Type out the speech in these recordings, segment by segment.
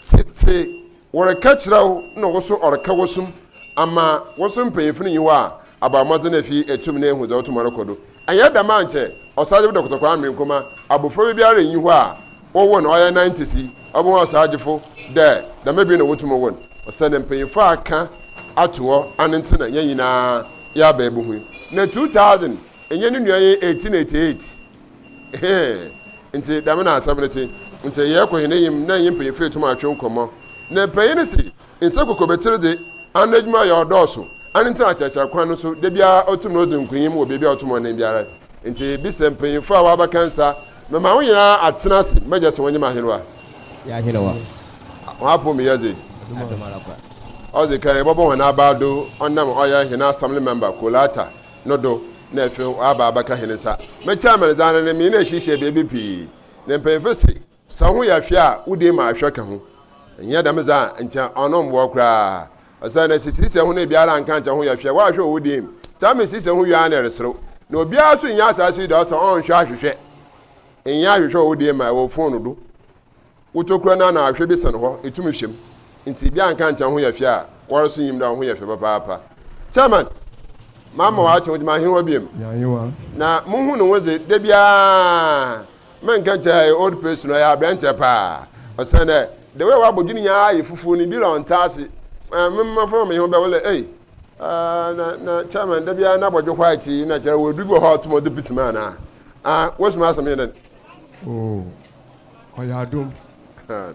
Sɛ wɔreka kyerɛ wo na wo so ɔreka wo som ama wo so mpanyimfo no nyi wo a, abɔ mmɔdzen efi etum na ehu dza otum ɔrokɔ do. Annyɛ dɛm a nkyɛ Ɔsagyefo Dɔkota Kwame Nkrumah abofraba biara nnyi hɔ a wɔwoo no ɔyɛ nantesi ɔbɛhu ɔsagyefo dɛ dɛm bi na wotum wo no, osiandɛ mpanyimfo aka ato hɔ ano ntsi na hɛn nyina yɛaba ebuhu. Na two thousand, nnyɛ no nua yɛ eighteen eighty eight. nti dɛm na asɛm no tse nti yɛkɔ hɛn enyim na nye mpanyimfo etum atwe nkɔmbɔ na mpanyin no se nsa kokobetsir dze ano edwuma yɛ ɔdɔɔso ano ntsi akyerɛkyerɛ kwan no so da biara otum na odzi nkonyim wɔ beebi a ɔto mbɔnden biara nti bisa mpanyimfo a wɔabɛka nsa mema wo nyina atsena ase mɛgya se wɔnye m'ahenwa y'ahenwa wɔapo me yɛdze ɔdze kan yɛbɔbɔ hɔn abaa do ɔnam ɔyɛ hɛn assembly member Kolata no do na afei ɔaaba abɛka hɛn nsa. Me chairman dze ano no, menye no ehyiahyia beebi pii, na mpanyimfo se, Sɛ woho yɛ hwe a, wo dee ma ahwɛ ka ho. Nnyɛ dɛm dze a, nkyɛ ɔno mmboa koraa. Osiandɛ sɛ sisiɛ ho na biara annka annkyɛ ho yɛ hwe a, woahwɛ wɔ wo dee mu. Chairman sisiɛ ho wie ara na ereserew. Na obiara so nnyɛ asaase yi do a ɔsɛ ɔnnhwɛ ahwehwɛ. Nnyɛ ahwehwɛ wɔ wo dee mu a, wɔ phone do. Wotokura no a na ahwɛ bi sɛn hɔ, ɛtumi hwɛ mu. Nti bia nka nkyɛ woho yɛ fɛ a, woara so nyim dɛ woho yɛ fɛ papaapa. Chairman, Mamma ɔakye ho dze mahen hɔ biom. Na muhu no ho dze, da biara mennka nkyɛ ɔyɛ old person, ɔyɛ aberantsɛ paa. Osiandɛ the way a ɔabɔdwe no nyinara ayɛ fufuw no, bi a ɔnntse ase. Ɛɛ me mma fam mehe ho bɛ, wole ei, ah, na, na Chairman da biara n'abɔdwe white yi, na kyerɛ ɔwɔ edu bi wɔ hɔ a ɔtom a ɔdze pits mu anaa? Ah, wosoma asɛm nye dɛn? Oh. Ɔyɛ adom.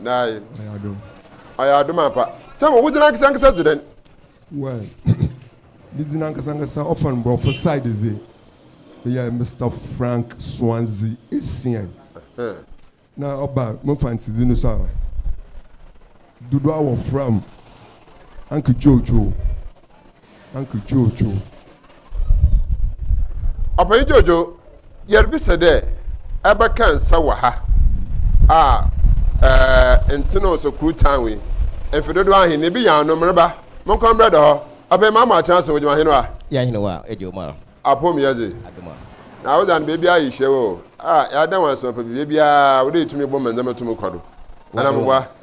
Nae. Ɔyɛ adom. Ɔyɛ adom ampa. Sɛ mo wogyina ankasa ankasa dze dɛn? Well, me dzin ankasa ankasa ɔfa no Borɔfo side dze meyɛ Mister Frank Swansea Asian. Na ɔba mo Mfantse dzin no so a, dodoɔ a wɔfra m' Uncle Jojo. Uncle Jojo. Ɔpanyin Jojo, yɛrebisa dɛ ɛbɛka nsa wɔ ha a ɛɛ ntene ɔsɔ kuru tan wei mfe dodoɔ ahen na ebi yɛ ano mmereba mo nkɔ mmerɛ dɔ hɔ ɔpanyin maa mo akyerɛ ase wɔ gyima ahen wa. Yɛ ahen wa ɛdi ɔmo ara. Apom yɛ dze. Adoma. Na wodze ano beebi ayi hyɛ wɔ o a yɛada wɔn ase mapa bibia biara wodɛ etumi bɔ mɛ ndzɛmba tumi kɔ do. Ana mo boa.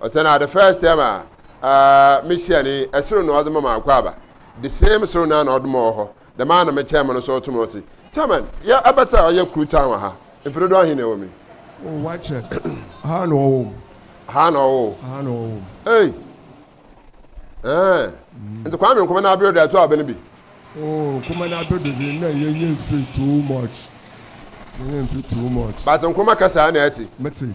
Ɔsɛ na the first time a ah me hyia ne yi, soro na ɔde ma ma akɔ aba. The same soro no ara na ɔde ma ɔwɔ hɔ, dɛm ara na me kyɛn mo no so ɔto ma ɔse, Chairman, yɛ abɛtɛ a ɔyɛ kuru tan wɔ ha, mfe dodoɔ ahe na ɛwɔ mu yi? Oh, wakyɛ, ha na ɔwɔ mu. Ha na ɔwɔ o. Ha na ɔwɔ mu. Ei! Ɛɛ, nti Kwame Nkrumah na abere de ato aba no bi? Oh, Nkrumah na abere de na yɛnyɛ mfe too much, yɛnyɛ mfe too much. But Nkrumah kasa a na ɛte. Mete.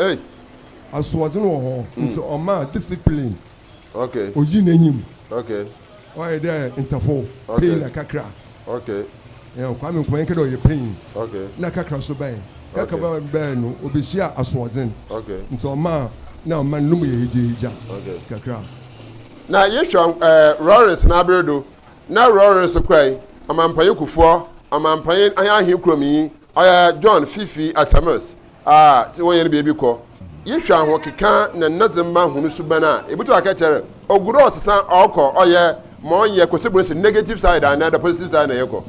Ei! Asoɔdzen wɔ hɔ ntsi ɔma discipline oyi n'enyim. Ɔyɛ dɛ ntafo, panyin na kakra. Kwame Nkrumah yɛnnkɛ dɛ ɔyɛ panyin na kakra so bɛn. Kakra bɛn a bɛyɛɛ no, obehyiaa asoɔdzen ntsi ɔmaa nna ɔman no mu yɛ hegyahegya kakra. Na yehwɛ Rawlings n'aber do, na Rawlings kurae ɔmampanyin Kufuor, ɔmampanyin nye ahenkurownyi, Ɔyɛ John Fifi Atamus a sɛ wɔyɛ no beebi kɔ. Yehwɛ ahokeka na ndɔdzemba hɔn suban a, ibotum akɛkyɛr ogu do ɔsesã ɔkɔ ɔyɛ ma ɔnnyɛ kɔsebun si negative side anaa dɛ positive side na yɛkɔ.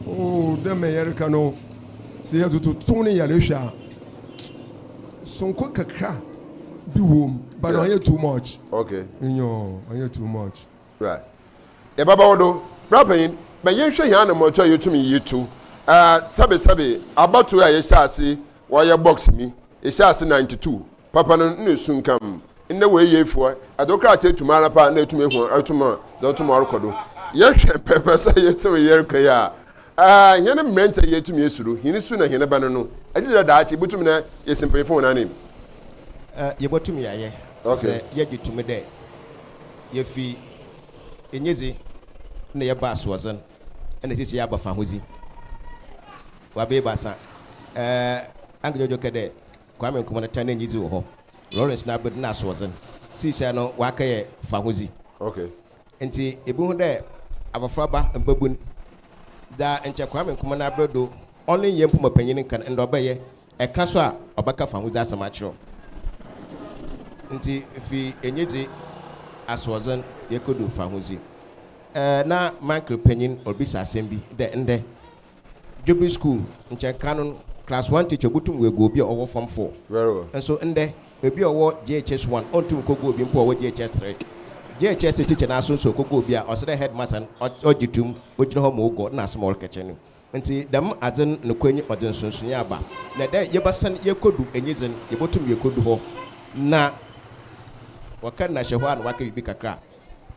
Oh, dɛ mbrɛ yɛreka no, sɛ yɛdze to ne yarba hwɛ a, sonkɔ kakra bi wɔ mu, but ɔnnyɛ too much. Okay. Nyew, ɔnnyɛ too much. Bra, yɛbɛba wo do. Bra panyin, ma yɛnhwɛ hɛn ana mbɔto a yetum yiyi to. Ah, sɛbesɛbe, abatow a yɛhyɛɛ ase wɔayɛ box mi, yɛhyɛɛ ase ninety two, papa no nna esunkam. Ndɛ wei yɛ efuwa, adze wo krataa etu mu ara paa na etum ehu ɔroto mu a, dza ɔto mu a ɔrokɔ do. Yɛhwɛ pɛpɛ sɛ yetsim yer kɔ yi a, ah, hɛn mberantsɛ yi yetum yesi do, hɛn su na hɛn ba no no, gyedɛ dɛ daakye yebotum na yesi mpanyimfo hɔn anan mu. Ah, yebotum yɛayɛ, sɛ yɛgye to mu dɛ. Yefi enyidzi na yɛba asoɔdzen na sisi yɛaba fahodzi. Wɔabeebaasa, eh, Ank Jojo kɛ dɛ Kwame Nkrumah ne tan n'enyidzi wɔ hɔ, Lawrence Nabed na asoɔdzen, siisia no wɔakɛyɛ fahodzi. Okay. Ntsi ibohu dɛ abofraba, mbabun, dza nkyɛ Kwame Nkrumah n'aber do ɔnnyɛ mpomapanyin nkan ndɛ ɔbɛyɛ Ɛka so a ɔbɛka fahodzi asɛm akyerɛ wo. Ntsi fi enyidzi, asoɔdzen yekodu fahodzi. Ɛɛ, na m'uncle panyin robisa asɛm bi dɛ, Ndɛ, Dwobir skuul, nkyɛ kan no class one teacher obotum oegu obi a ɔwɔ form four. Nso ndɛ, obi a ɔwɔ JHS one onntum nkogu obi mpo a ɔwɔ JHS three. JHS three teacher no ara so nso okogu obi a, ɔsɛ dɛ headmaster no ɔgye to mu, ogyina hɔ ma oguɔ, nna asɛm a ɔrekɛkyerɛ no Ntsi dɛm adze no nokwar nye ɔdze nsonsonee aba, na dɛ yɛbɛsan yekodu enyi dze no, yebotum yekodu hɔ na wɔkã no na hyɛ hɔ a na wɔakã biribi kakra a,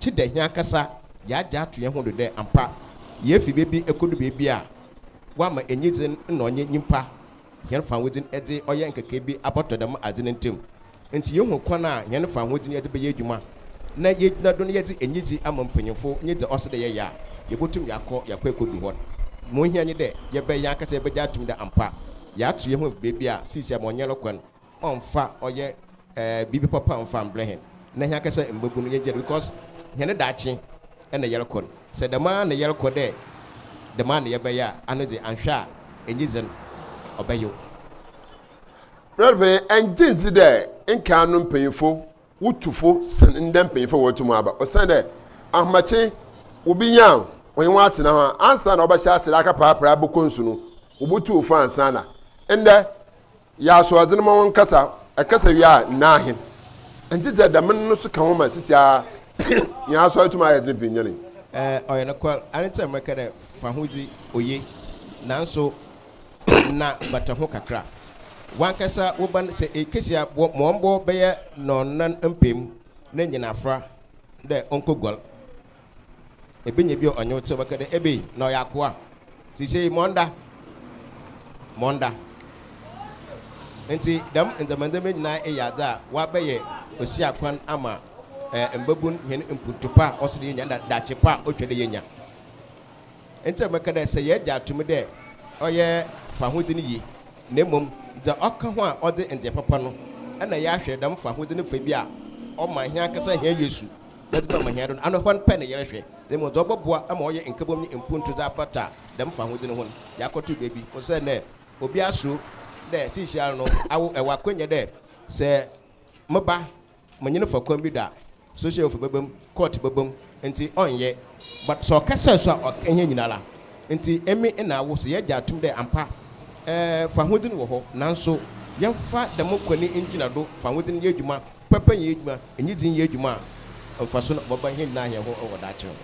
gye dɛ hɛnankasa yɛagye ato hɛnho do dɛ ampa yeefi beebi ekodu beebi a wɔama enyi dze no na ɔnye nyimpa hɛn fahodzi no dze ɔyɛ nkekaabi abɔtɔ dɛm adze no ntamu. Ntsi yehu kwan a hɛn fahodzi no yɛdze bɛyɛ edwuma na yegyina do na yɛdze enyidzi ama mpanyimfo nye dza ɔsɛ dɛ yɛyɛ a, yebotum yɛakɔ yɛakɔ ekodu hɔ. Ma ohia nye dɛ yɛbɛyɛ yɛankasa yɛbɛgye atum dɛ ampa yɛato hɛnho efi beebi a sesei ama ɔnnyɛ no kwa no, ɔmmfa ɔyɛ biribi papa mmfa mmbrɛ hɛn na hɛnankasa mbabu no yɛnngye no because hɛn daakye na yɛrokɔ no. Sɛ dɛm ara na yɛrokɔ dɛ dɛm ara na yɛbɛyɛ a, ano dze annhwɛ a enyidzi no ɔbɛyew. Brɛd panyin, ɛnngye ndzi dɛ nkan no mpanyimfo wo tu fo sen ndɛ mpanyimfo a wɔretu mu aba. Osiandɛ ahomakye obi nya a ɔnye hɔn atsena ho a, ansaana ɔbɛhyɛ ase dɛ akaprapra bɔkɔ nsu no, wobotu wo fo ansaana. Ndɛ, yɛ asoɔdzen ma wɔnkasa, ɛkasa wie a, nna ahen. Nkyɛ dza dɛm no so ka ho ma seseiara hɛn asɔr tum ayɛ dzen pii nyɛn yi. Ɔyɛ nokwar, aretseɛm reka dɛ, Fahodzi oye, naaso na bata ho kakra. Wankasa wo ba no, sɛ ekesi a, bɔ ma ɔmbɔ bɛyɛ nɔnan mpaemu na nyin afora dɛ onkoguar. Ebenya bi a ɔnye wo tse bɛka dɛ, Ebei, na ɔyɛ akowaa. Sesei ma ɔnda. Ma ɔnda. Ntsi dɛm ndzɛmba ndzɛmba nyina eyɛ adze a wɔabɛyɛ osiakwan ama mbabun hɛn mpontu pa a ɔsɛ dɛ yenya na daakye pa a otwa dɛ yenya. Ntsi meka dɛ sɛ yɛgye ato mu dɛ ɔyɛ fahodzi no yi na mbom dza ɔkã ho a ɔdze ndzeyɛ papa no na yɛahwɛ dɛm fahodzi no fa bi a ɔma hɛnankasa hɛn Yesu bɛdze no ama hɛn do no, ano hɔn pɛ na yɛrehwɛ na mbom dza ɔbɔboa ma ɔayɛ nkabɔmu nye mpontu dze apata dɛm fahodzi no ho no, yɛakɔto beebi. Osiandɛ obiara suro dɛ siisiara no awo wɔ akwannya dɛ sɛ meba Menye no fa kwan bi da, social fo bɛba mu, court bɛba mu, ntsi ɔnnyɛ. But sɛ ɔkɛsɛɛ so a ɔk hɛn nyinara. Ntsi emi na awo so yɛgye atum dɛ ampa eh fahodzi no wɔ hɔ, naaso yɛmfa dɛm kwan no ngyina do, fahodzi no yɛ edwuma, pɛpɛ nyɛ edwuma, enyidzi nyɛ edwuma a mfaso no ɔbɛba hɛn nyinara hɛn ho wɔ daakye ho.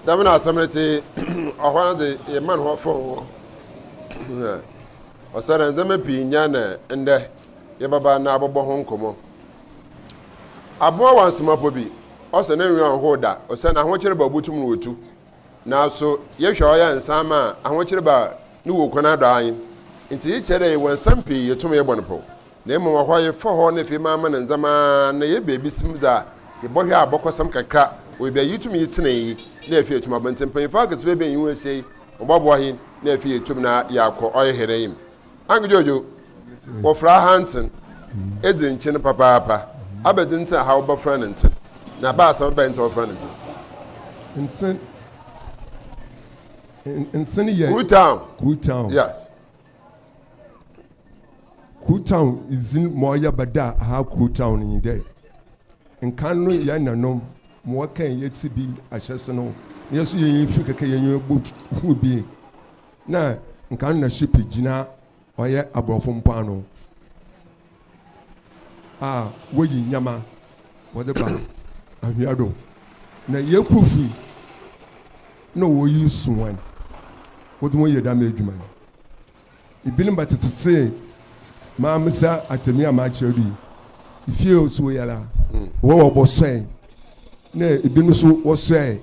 Dɛm na asɛm no tse, ɔhɔ ara dze yɛman hɔ fɔɔnn. Ɔsɛ dɛ ndzɛmba pii nnyɛɛ ndɛ, ndɛ yɛbɛba na abɔbɔ ho nkɔmmɔ. Abowa wansemapɔ bi, ɔsɛ ne nweɔn hoo da, ɔsɛ n'ahokyere ba obotum no otu. Naaso yɛhwɛ a ɔyɛ nsaama a ahokyere ba no wɔ kwan adɔ ahen. Ntsi iyi kyerɛ dɛ wɔ nsɛm pii yetum yɛbɔ no pɔw, na mbom wɔ hɔ a yɛfa hɔ na afei maama no ndzɛmba na yɛyɛ beebisem dza yɛbɔhwɛ a abɔkɔsɛm kakra wɔ beebi a yetum yi tsenee yi na afei etum abɔ. Ntsi mpanyimfo aketsewaa ebien yi ho ehyia yi wɔbɔboa hɛn na afei yetum na yaakɔ ɔyɛ hɛn enyim. Anke Jojo, wɔfra ha ntsen edzi nkyen papaapa. Abɛdze ntsi na ha wɔbɛfrɛ no ntsen, na abaasa bɛn ntsi na wɔfrɛ no ntsen? Ntsen, ntsen yɛ. Kru town. Kru town. Yes. Kru town dzin ma ɔyɛ bɛda ha kru town nye dɛ, nkan no yɛn nanom ma wɔkɛn yɛtse bi ahyɛse no, yɛn so yɛnye fi kɛkɛ yɛnye bɔ hu bi. Na nka no na ship gyina ɔyɛ aborɔfo mpoano a woyi nneɛma wɔde ba anhwea do na yɛkɔ fi na wɔyi suwan wɔde wɔn yɛ dɛm adwuma no ebinom ba tete se maa me sɛ atami a maa kyerɛ do yi fie nso yɛla wɔwɔ bɔ sɔe na ebinom nso wɔsɔe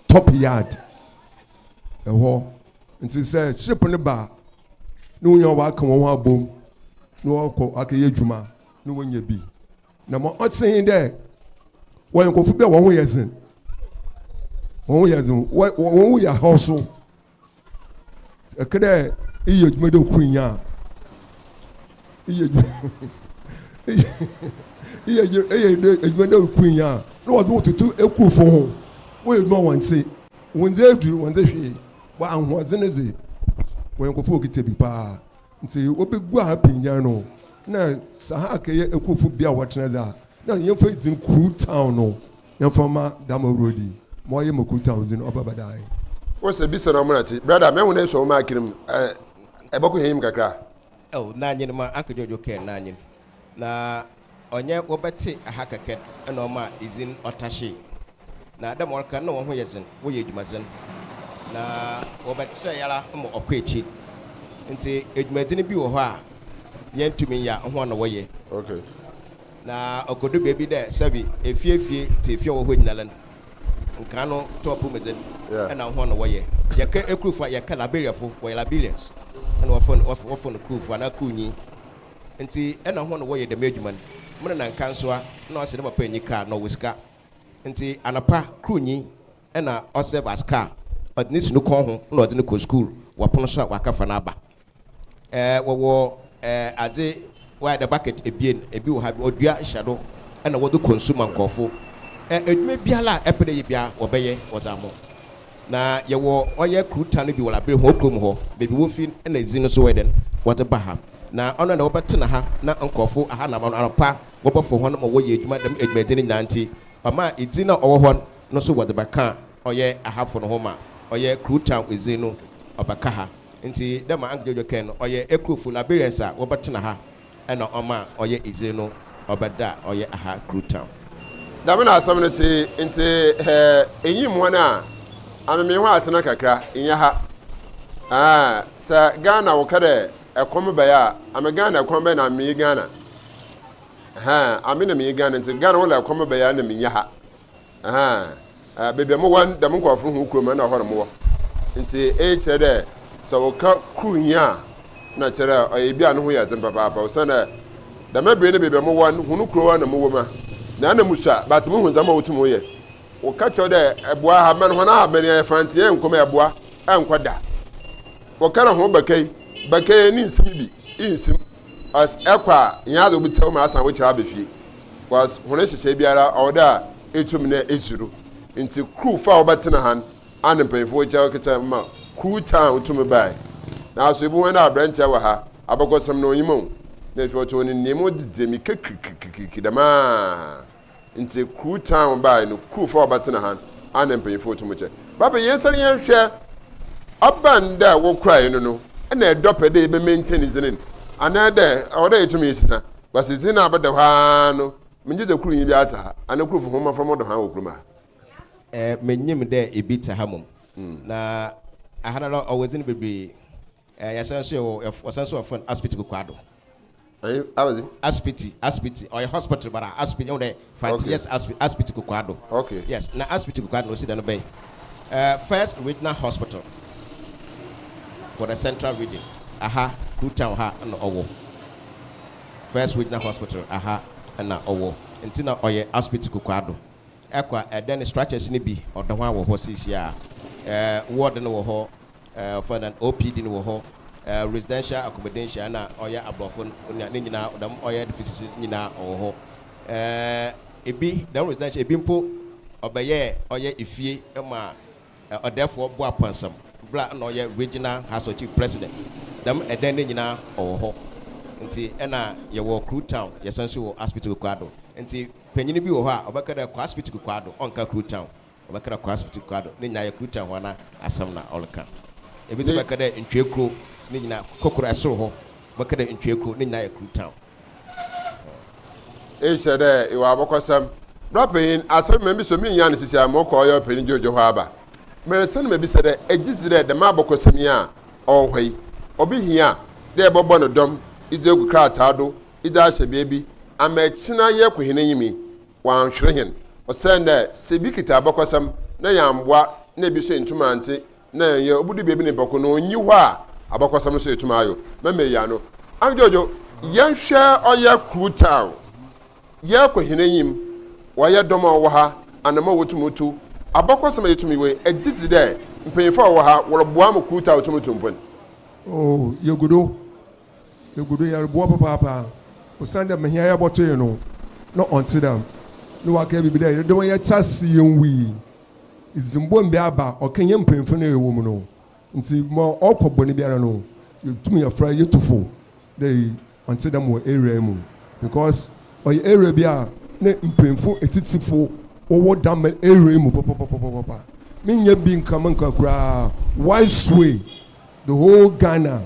top yard ɛhɔ nti sɛ ship no ba na wonya wɔn aka wɔn ho abom na wɔkɔ akɛyɛ adwuma na wɔnya bi na ma ɔte he dɛ wɔyɛ nkɔfo bi a wɔn ho yɛ dzen wɔn ho yɛ dzen wɔn ho yɛ haw so ɛkɛ dɛ iyɛ adwuma dɛ okuru nya a iyɛ adwuma iyɛ adwuma dɛ okuru nya a na wɔde wɔn toto ekurufo ho wɔyɛ adwuma wɔn nse. wɔndze edur, wɔndze hwee, bɔ ahoɔdzen dze wɔyɛ nkorɔfo a wokitsa bi paa. Ntsi wobeguaa Pinyan no na Sahak yɛ ekuwfo bea a wɔtsena dze a, nna yɛmfa dzin kurow, town, no yɛmfa mma dɛm awuradzi yi ma ɔayɛ ma kurow, town, dzin ɔbɛba dae. Wo se bisa na ɔmena ti brada mɛhu dɛ sɔwoma akiri mu ɛbɔkɔ hɛn yim kakra. Oh na nyin ma anka dwodwo kɛn na nyin na. Ɔnyɛ wɔbɛtse ha kɛkɛ na ɔmaa idzin ɔtahyee, na dɛ ma ɔreka no nna hɔnho yɛ dzen, wɔyɛ edwumadzen, na wɔbɛkyerɛe ara ma ɔkɔ ekyir. Ntsi edwumadzen bi wɔ hɔ a yenntum nnyɛ a, hɔn na wɔyɛ. Okay. Na ɔkodu beebi dɛ sɛbi efie fie tse efie a ɔwɔ hɔ nyinara no, nkaa no to apɔwmudzen Yeah. nna hɔn na wɔyɛ. Yɛkã ekurufo a, yɛkã Liberiafo, wɔyɛ Liberians, nna wɔfrɛ no wɔfrɛ no kurufo anaa kurnyi. Ntsi nna hɔn na wɔyɛ dɛm edwuma no. Mo nana Nkanswa, nna ɔsɛ ne papa enyi kaar na ɔwɔ sika. Ntsi anapa kor nyi nna ɔserve as kaar, ɔdze no si no kɔn ho na ɔdze no kɔ skuul, wɔ pon so a ɔakɛfa no aba. Eh, wɔwɔ eh adze wɔayɛ dɛ bucket ebien, bi wɔ ha bi ɔdua hyɛ do na wɔdze kɔ nsu ma nkorɔfo. Eh, edwuma biara a epɛ dɛ eyɛ biara wɔbɛyɛ wɔdze ama wo. Na yɛwɔ ɔyɛ kuro ta no bi wɔ labere ho kurom hɔ baabi wofi na edzi no so wɔyɛ dɛn wɔdze ba ha na ɔno na wɔbɛtsena ha na nkorɔfo aha na anɔpa wɔbɔfo hɔn ma wɔyɛ edwuma dɛm edwumadzi no nyinaa ntsi ɔma edzi no a ɔwɔ hɔ no so wɔdze bɛka ɔyɛ ahafo no ho ma ɔyɛ kuro ta edzi no ɔbɛka ha ntsi dɛ ma Uncle Jojo kɛn no ɔyɛ ekurofo Liberians a wɔbɛtsena ha na ɔma ɔyɛ edze no ɔba da a ɔyɛ aha Krutam. Dɛm na asɛm no tse, ntsi hɛ enyim hɔn a, amemee hɔn atsena kakra, nnyɛ ha. Aah, sɛ Ghana woka dɛ kɔm bae a, ame Ghana kwan bɛn na ame menye Ghana? Aah, ame na menye Ghana, ntsi Ghana wo la kɔm bae a nna mennyɛ ha. Ahaa beebi a mo wɔ no dɛm nkorɔfo no hɔn kurom no nna hɔ na mo wɔ ntsi iyi kyerɛ dɛ sɛ wɔkã kur nye a nna kyerɛ dɛ ɔyɛ bi a no ho yɛ dzen papaapa osiandɛ dɛm aber no beebi a mo wɔ no hɔn kurow na mo wɔ mu a na nna mo sua but mo hu ndzɛmba a wotum yɛ wɔkã kyerɛw dɛ ɛboa ahaban hɔn ahaban yɛ frantseɛ nkɔmɔ ɛboa ɛnkɔ da wɔkã dɛ hɔn bɛkɛi bɛkɛi nye nsim bi iyi nsim. As ɛkɔ a, nnyɛ adze a obi tse hɔ ma asan wo kyɛw aba fie. As hɔn nhyehyɛɛ biara ɔwɔ dɛ a etum na esi do. Ntsi kruw fa a wɔbɛtsena han a nna mpanyimfo wɔ kyɛw ketsewaa mu ma kruw taa ho tum bae. Naaso ibohu hɔn dɛ aberantsɛ wɔ ha, abakɔsɛm no onyim o, na afei ɔtse hɔ no nnyim o dze dze mirika kirikirikirikiri dɛm ara. Ntsi kru time bae no kru fa ɔbɛtsena han a na mpanyimfo tum kyɛ. Bɛbɛ yɛnsan yɛnhwɛ aba nda a wɔkurae no no na ɛdɔ pɛ dɛ yɛbɛ maintain dzin no anaa dɛ ɔwɔ dɛ yɛtum yesesa ba se dzin no a bɛda hɔ aa no menngye dze kru nyi bi atse ha anaa kru fo hom mafra mo do han wɔ krum ha. Mennyim dɛ bi tse ha mom na ahanara ɔwɔ dzin bebree Eh, yɛsan nso yɛwɔ, yɛf- wɔsan nso wɔfrɛ no Asipiti Kokoado. Ɛyɛ ayi. Asipiti, Asipiti, ɔyɛ hospital bara, Asipiti, ɛhu dɛ, fanti, Okay. yes, Asipiti, Asipiti Kokoado. Okay. Yes, na Asipiti Kokoado na osi dɛ no bɛyɛ eh, first regional hospital for the central region. Aha, Kru Town ha na ɔwɔ. First regional hospital, aha na ɔwɔ. Nti na ɔyɛ Asipiti Kokoado. Ɛkɔ a, ɛdɛ ne structures no bi, ɔdɔ ho a wɔ hɔ seesie a. Eh, ward no wɔ hɔ, Ɛɛ ɔfa na OPD no wɔ hɔ ɛɛ residential accommodation ɛna ɔyɛ aborɔfo no ne ne nyinaa dɛm ɔyɛ edifices no nyinaa ɔwɔ hɔ ɛɛ ebi dɛm residential ebi mpo ɔbɛyɛɛ ɔyɛ efie ma ɛɛ ɔdɛɛfoɔ Boapansam bla ɛna ɔyɛ regional house of chief president dɛm ɛdɛn no nyinaa ɔwɔ hɔ nti ɛna yɛwɔ Kru town yɛsan nso wɔ Aspiti Kwekwaado nti panyin bi wɔ hɔ a ɔbɛka dɛ kɔ Aspiti Kwekwaado ɔnka Kru town Ɔbɛka dɛ Kwasp tse kua do, ne nyina yɛ Kuta hɔn asɛm na ɔreka. Bi so bɛka dɛ Ntwea Kuro, ne nyina, Kokora Esor hɔ, bɛka dɛ Ntwea Kuro, ne nyina yɛ Kuta. Iyi kyerɛ dɛ ewɔ abɔkɔsɛm. Bra panyin, asɛm bi ma miso minyaa no sesei a morokɔ ɔyɛ Ɔpanyin George hɔ aba. Meresan no mebisa dɛ, egye dzi dɛ dɛm abɔkɔsɛm yi a ɔwɔ hɔ yi, obi hia dɛ ebɔbɔ no dɔm edze egu krataa do edze ahyɛ beebi ama ekyen ayɛ Kohenenyi? wɔannhwere hɛn. Osiandɛ sɛ bi kitsa abakɔsɛm na yɛammboa na bi so enntum anntse na yɛnnyɛ obodu beebi ne bɔkõ no, onnyi hɔ a abakɔsɛm no so yetum ayɛ o. Mɛma eyi ano. Andwodwo, yɛnhwɛ ɔyɛ kurow town, yɛkɔ hɛn enyim, ɔyɛ dɔm a ɔwɔ ha, anamɔn a wotum tu, abakɔsɛm a yetum yɛ wei, egye dzi dɛ mpanyimfo a wɔwɔ ha wɔroboa ma kurow town tum tu mpon. Oh, yegu do. Egu do yɛroboa papaapa osiandɛ ma hɛn a yɛbɔto hɛn no, nna ɔnntse dɛm. Na ɔakã biribi dɛ, Yɛreda mu a yɛtse ase yennwui. Edze mbom bi aba, ɔkã hɛn mpanyimfo no a yɛwɔ mu no. Ntsi ma ɔkɔ bɔn biara no, yetum yɛfora, yetu fo dɛ iyi ɔnntse dɛm wɔ area yi mu. Because ɔyɛ area bi a nna mpanyimfo etsitsifo wɔwɔ dɛm area yi mu papapapapaapa. Mennyɛ bi nka menka koraa, why sway? The whole Ghana.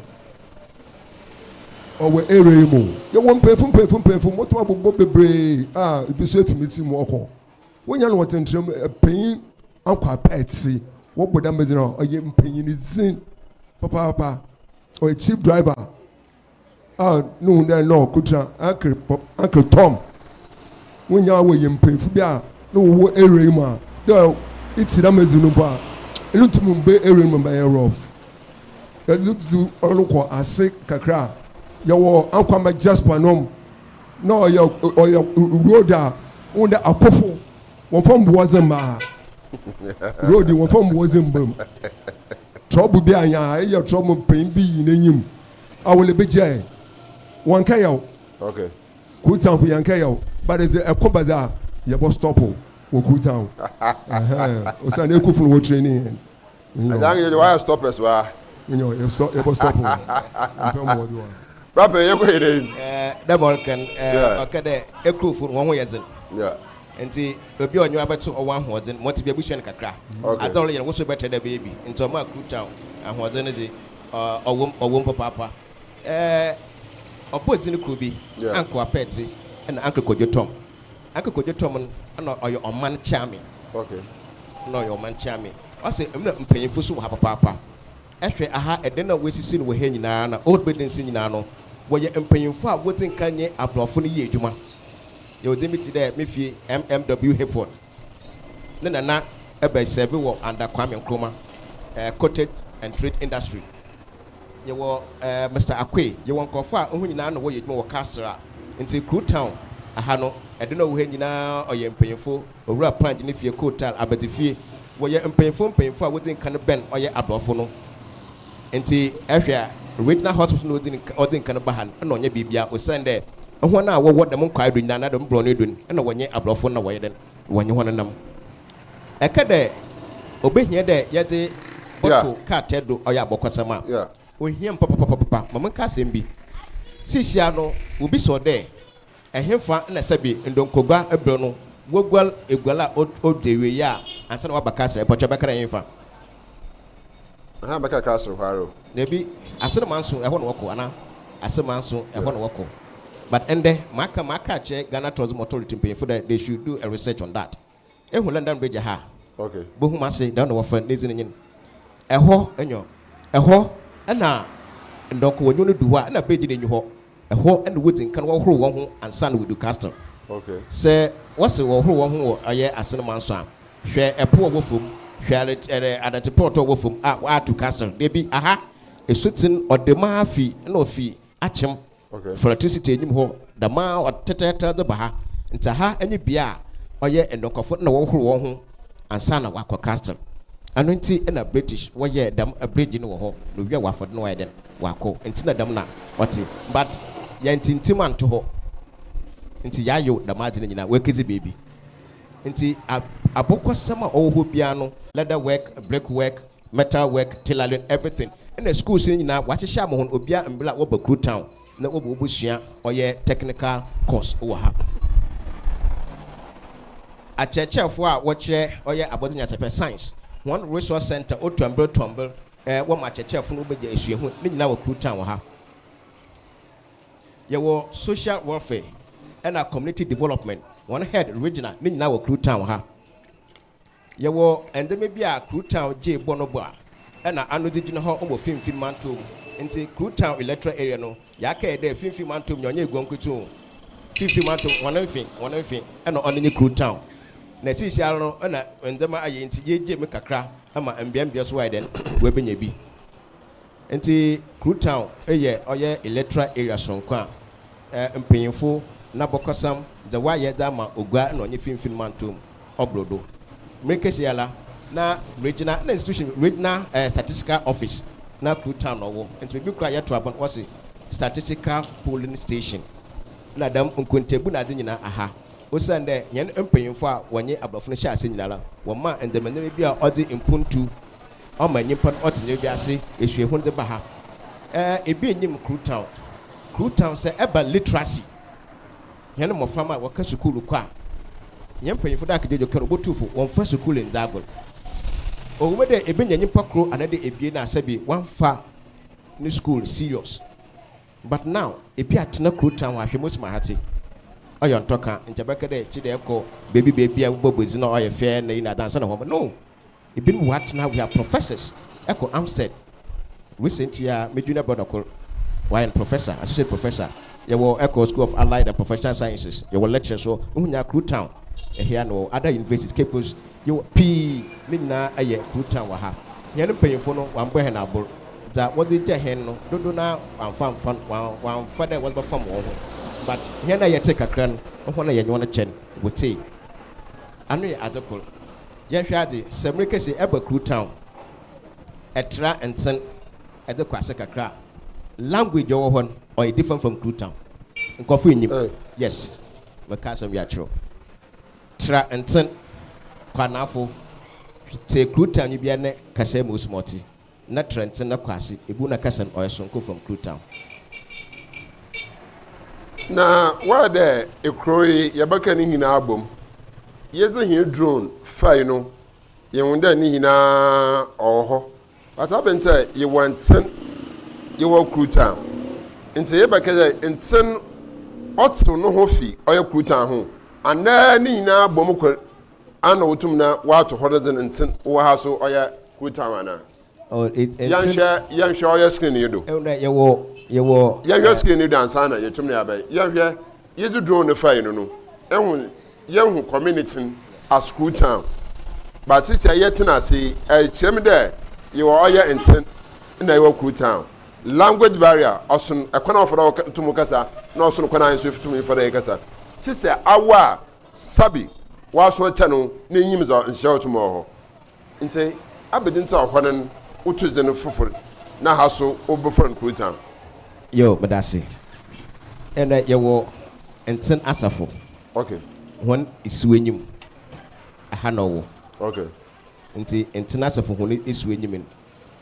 Ɔwɔ area yi mu. Yɛwɔ mpanyinfo mpanyinfo mpanyinfo mɔtɔ abobɔ bebree a ebi so efi mi ti mu ɔkɔ. Wonya no wɔ tentrem mpanyin akɔ apɛ ti. Wɔbɔ dam bɛgyina ɔyɛ mpanyin dzin papaapa. Ɔyɛ chief driver a ne hu dɛ na ɔkotsira Uncle Pop, Uncle Tom. Wonyia wɔ yɛ mpanyimfo bi a na wɔwɔ area yi mu a, dɛ etse dɛm edzi no mpo a, eno tum mmbɛ area yi mu bɛyɛ rough. Yɛdze dzi ɔno kɔ ase kakra a, yɛwɔ Ankwama Jasper nom, na ɔyɛ ɔyɛ road a wohu dɛ akɔfo wɔmmfa mbowa dze mma ha. Road yi wɔmmfa mbowa dze mmba mu. Trouble bi a yɛa, eyɛ trouble mpanyin bi yi n'enyim awele bi gya ɛ wɔn kɛ yaw okay. kuru tanfo yɛn kɛ yaw but ɛsɛ ɛkɔ ba dza yɛbɔ stop wɔ kuru tan ɔsan ɛkɔ funu wɔ training yɛn. ɛdan yɛ wayɛ stoppers wa. nyɔ yɛ stop yɛbɔ stop wɔ mpɛ mɔ ɔdi wa. rapɛ yɛ kɔ yɛ dɛ. ɛɛ dɛ bɔl kɛn ɛɛ ɔkɛ dɛ ɛkuru funu wɔn ho yɛ dzen. nti obi ɔnyɛ abɛto ɔwɔ ahoɔdzen mɔti bi abusua no kakra. adze ɔlɔ yɛn woso bɛtɛ dɛ bɛyɛ bi nti ɔmo akuru tan ahoɔdzen ne dze. Ɔwɔ mu, ɔwɔ mu papaapa. Ɛɛ ɔbɔɔ dzin kor bi, Yeah. Uncle Apɛɛdze na Uncle Kojo Tom. Uncle Kojo Tom no, nna ɔyɛ ɔman kyeame. Okay. Nna ɔyɛ ɔman kyeame. Ɔse nna mpanyimfo so wɔ ha papaapa. Ehwɛ aha, dan a woesisi no wɔ ha nyina na old buildings yi nyina no, wɔyɛ mpanyimfo a wodzi nkan nye Aborɔfo no yɛɛ edwuma. Yɛwɔ dzin bi tse dɛ me fie, MMW Hayford. ne nana bɛ sɛɛve wɔ under Kwame Nkrumah eh, cottage and trade industry. Yɛwɔ eh, Mister Akoe, yɛwɔ nkurɔfoɔ a wɔn nyinaa na wɔyɛ adwuma wɔ castle a nti kuru town aha no ɛde na ɔwɔ ha nyinaa ɔyɛ mpanyinfo owura panj ne fie kotal abadzifie wɔyɛ mpanyinfo mpanyinfo a wɔdzi nka no bɛn ɔyɛ aborɔfo no Ntsi ehwɛ a, regional hospital na odzi nka ɔdze nka no ba ha no nna ɔnnyɛ biribiara osiandɛ hɔn a wɔwɔ dɛm nkwae do nyina anaa dɛm borɔnee do no nna wɔnnyɛ aborɔfo nna wɔyɛ dɛn wɔnye hɔn nam. Ɛkã dɛ obehia dɛ yɛdze bɔto krataa do ɔyɛ abɔkɔsɛm a, ohia mu papapapapa. Ma menka asɛm bi. Sisiara no wobisaw dɛ Ɛhefa na ɛsɛ bi ndonkogua bere no wogual egual a odwo awieɛ a ansa na waba castle? Mpɔkyɛ bɛkra ɛhefa? Aha bɛkra castle hɔ ara o. Dabi, Asene Manso ɛhɔ na wɔkɔ anaa? Asene Manso ɛhɔ na wɔkɔ but ɛndɛ maka maka akyerɛ Ghana Tourism Authority mpanyinfo dɛ they should do a research on that. Ehu London Bridge ha a, bohu m'ase, dɛm na wɔfrɛ no, n'edzin nye n'. Hɔ nyo, hɔ na ndɔnkɔwanyu no du hɔ a, nna bridge no nnyi hɔ. Hɔ na wodzi nkan wɔhohor hɔnho ansaana wodu Castle. Sɛ wɔse wɔhohor hɔnho wɔ ɔyɛ Asen manso a, hwɛ po a ɔwɔ famu, hwɛ adɛtse prɔtɔ a ɔwɔ famu a wɔato Castle. Dabi, aha, esutsen ɔdɛm ara fi na ofi akyem. Ɔhwɛ electricity enyim hɔ dɛm ara tɛtrɛɛtrɛ dze ba ha. Ntsi ha nye bea a ɔyɛ ndɔnkɔfo nna wɔhohor hɔnho ansaana wɔakɔ castle. Ano ntsi na British wɔyɛɛ dɛm bridge no wɔ hɔ na owia wɔafa do na wɔayɛ dɛn wɔakɔ. Ntsi na dɛm na ɔtse. But yɛanntsintsem annto hɔ ntsi yɛayew dɛm adze no nyina woekedzi beebi. Ntsi abɔkɔsɛm a ɔwɔ hɔ biara no, leather work, brick work, metal work, tailoring, everything ɛna schools no nyinaa w'ahyehyɛ ama wɔn obiara mbrɛ a wɔba kuru town na wɔbɔ wɔbɔ sua ɔyɛ technical course wɔ ha akyerɛkyerɛfoɔ a wɔkyerɛ ɔyɛ abɔdze nyansapɛ science wɔn resource center o tɔmbel tɔmbel ɛɛ wɔn akyerɛkyerɛfoɔ no wɔbɛgya esuahu ne nyinaa wɔ kuru town wɔ ha yɛwɔ social welfare ɛna community development wɔn head regional ne nyinaa wɔ kuru town wɔ ha. Yɛwɔ ndɛmba bi a Krutown gyee bɔ no bɔ a nna ano dze gyina hɔ wɔ Finimfin Mantɔw mu. Ntsi Krutown electoral area no, yɛakɛyɛ dɛ Finimfin Mantɔw mu nyia ɔnnyɛ Eguankuku tum. Finimfin Mantɔw mu, hɔn mfe, hɔn mfe na ɔno nye Krutown. Na seseiara no nna ndɛmba ayɛ ntsi, yegyae mu kakra ma mbeambea so ayɛ dɛn, woebenya bi. Nti Kru town yɛ ɔyɛ electoral area soronko a mpanyimfo n'abɔkɔsam dze wɔayɛ dze ama Ogua na ɔnye Finimfin Mantɔw mu ɔbordo. Mber kesi ara na regional na institution regional statistical office na Kru town na ɔwo nti beebi kor a yɛto aba no wɔse statistical polling station na dɛm nkontabu na adze nyina aha osiandɛ hɛn mpanyimfo a wɔnye aborɔfo no hyɛ ase nyinara wɔmaa ndzɛmanyɛma bi a ɔdze mpontu ɔma nyimpa no ɔtse no wiase esuahu no dze ba ha. Ɛɛ, bi nnyim Kru Town. Kru Town, sɛ ɛba literacy, hɛn mboframba a wɔkã skuul kɔ a, hɛn mpanyimfo dɛ akedwodwo kã no, wobotu fo, wɔmmfa skuul nndzi agor. Ɔwɔ mu dɛ ibenya nyimpa kor anaadɛ ebien a sɛ bi wɔammfa no skuul serious, but now bi atsena Kru Town hɔ ahwɛ mosim ahatse. Ɔyɛ ɔnntɔ kã, nkyɛ bɛkã dɛ kyedɛ ekɔ beebi beebi a ebobɔ edzi na ɔyɛ fɛ na iyi na adze ansaana hɔn bɛ, no! Ebinom wɔ ha tena ha, we are professors, ɛkɔ Amstead recently a me junior brother kor wayɛ no professor, associate professor, yɛwɔ ɛkɔ school of allied and professional sciences, yɛwɔ lecturers wɔ, no ho nyinaa Kru Town, ɛhea no wɔ other universities, Cape Coast, yɛwɔ pii, ne nyinaa ɛyɛ Kru Town wɔ ha. Hɛn mpanyimfo no wɔammbɔ hɛn abor, dza wɔdze gyɛ hɛn no dodow no ara wɔammfa ammfa no, wɔammfa dɛ wɔdze bɛfam hɔn ho, but hɛn a yɛtsee kakra no, hɔn a yɛnye hɔn kyɛ no, wɔtsee. Ano yɛ adze kor. Yɛnhwɛ adze, sɛ mmere kɛse ɛba kuru town, ɛtra ntsen ɛdze kɔ ase kakra a, language ɔwɔ hɔ no ɔyɛ different from kuru town. Nkɔfo nnyim. Yes, mɛka asɛm bi akyerɛ wo. Tra ntsen, kɔ anafo, tse kuru town nyi bia ne kasaa mu osi ma ɔtse. na trɛntsen na kɔ ase, ebu na kasa no ɔyɛ soronko fam krutaw. Na wɔyɛ dɛ ekurow yi yɛbɛka ne nyina abɔ mu. Yɛdze hɛn drone fae no, yehun dɛ ne nyina ɔwɔ hɔ, but aber ntsi a yɛwɔ ntsen, yɛwɔ krutaw. Ntsi yɛbɛka dɛ ntsen ɔtsew noho fi ɔyɛ krutaw ho anaa ne nyina bɔ mu kor. Ana wotum na wɔato hɔ no dze ntsen wɔ ha so ɔyɛ cool town anaa? Or it ntsen. Yɛnhwɛ yɛnhwɛ ɔyɛ screen yi do. Ehu dɛ yɛwɔ yɛwɔ. Yɛnhwɛ screen yi do ansaana yetum na yɛabɛyɛ. Yɛnhwɛ yedze drone no fae no no ehu yɛnnhu community no as cool town but sisiɛ yɛtsen ase yi ɛkyerɛ mu dɛ yɛwɔ ɔyɛ ntsen na yɛwɔ cool town. Language barrier ɔson kwan a wɔfa do tum kasa na ɔson kwan a hɛn so yetum fa do yɛkasa. Tse sɛ awo a. Sabi w'aso akyɛ no na inyim dza nhyira a otum wɔ hɔ. Ntsi abɛdze ntsi a hɔ no no wo to dzin fofor na ha so wɔbɛfrɛ no Kurotan? Yoo, meda ase. Ndɛ yɛwɔ Ntsen Asafo Okay. hɔn esuenyim, ha na ɔwɔ. Okay. Ntsi Ntsen Asafo hɔn esuenyim no